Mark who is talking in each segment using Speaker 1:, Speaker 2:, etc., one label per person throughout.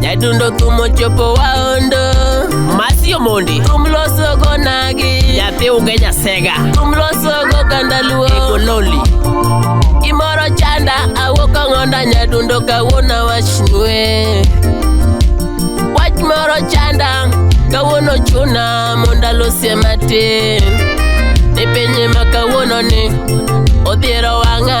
Speaker 1: nyadundo thum ochopo waondo masio mondi thum losogo nagi nyathi unge nyasega thum losogo ganda luo egololi gimoro chanda awuok ang'onda nyadundo kawuono awachnue wach moro chanda kawuono chuna mondo alosie matin ni pinye ma kawuono ni odhiero wang'a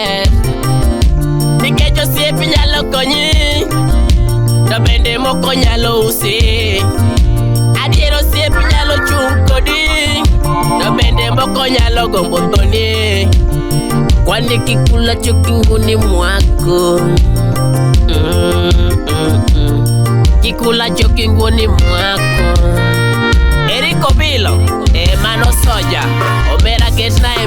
Speaker 1: maber nikech osiep nyalo konyi to bende moko nyalo usi adier osiep nyalo chung' kodi to bende moko nyalo gombo thoni kwani kikula chokinguni mwako Mm, mm, mm. kikula chokinguni mwako eriko bilo e mano soja omera ketna e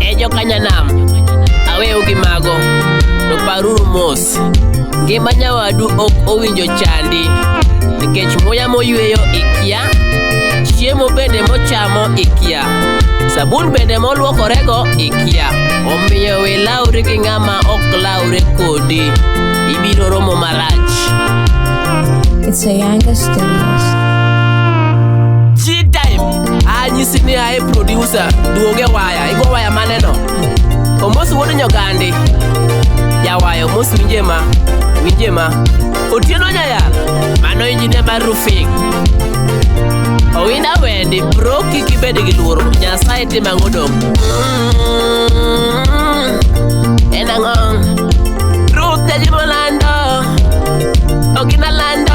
Speaker 1: E jokanyanam, aweu gi mago, to paruru mos. Ngima nyawadu ok owinjo chandi, nikech muya moyweyo ikia, chiemo bende mochamo ikia, sabun bende molwokorego ikia. Omiyo we lawri gi ng'ama ok lawre kodi, ibiro romo marach. It's a Yanga Studios. anyisi ni ae producer duoge waya igo waya maneno omosi wuod nyogandi jawayo omosi winje ma winje ma otieno nyayal mano injinia mar rufing owinda wendi bro kik ibed gi luoro nyasaye tim ang'o dong Mm, en ang'o ruth jajimo lando ok inalando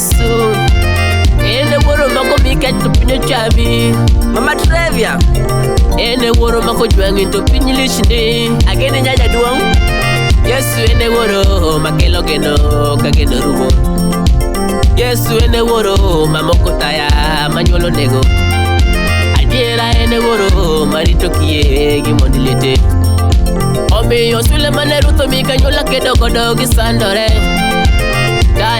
Speaker 1: Yesu Ene wuoro mako mikech to piny ochami Mama Trevia Ene wuoro mako jwang'i to piny lichni Ageni nyaja duong' Yesu ene wuoro makelo geno ka geno rumo Yesu ene wuoro mamoko taya manyuolo nego Adiera ene wuoro marito kie gi mond liete Omiyo Sulemane Ruth omi kanyuola kedo godo gisandore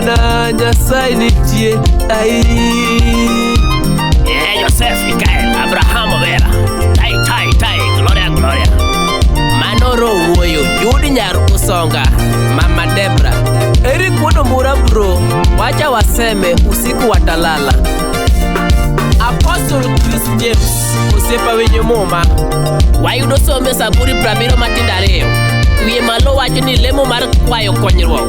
Speaker 1: na Nyasaye nitie ai Eh, Joseph Mikael Abraham Vera Tai Tai Tai Gloria Gloria Manoro Wuoyo Judy Nyar Usonga Mama Debra Eric Wono Mura Bro Wacha waseme usiku watalala Apostle Chris James Osiepa Winyo Muma Wayudo sombe Saburi Prabiro Matindariyo Wiye malo wacho ni lemo mar kwayo konyruok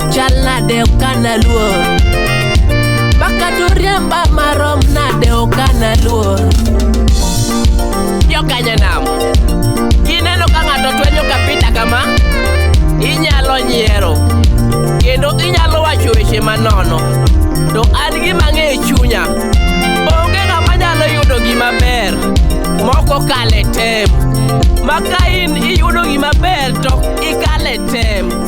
Speaker 1: chal nade ok analuor Baka turiemba marom nade ok analuor Jokanya nam Kineno ka ng'ato twenyo kapita kama Inyalo nyiero Kendo inyalo wacho weche manono To an gima ng'e e chunya Onge ng'ama nyalo yudo gima ber Moko kale tem Maka in iyudo gima ber to ikale tem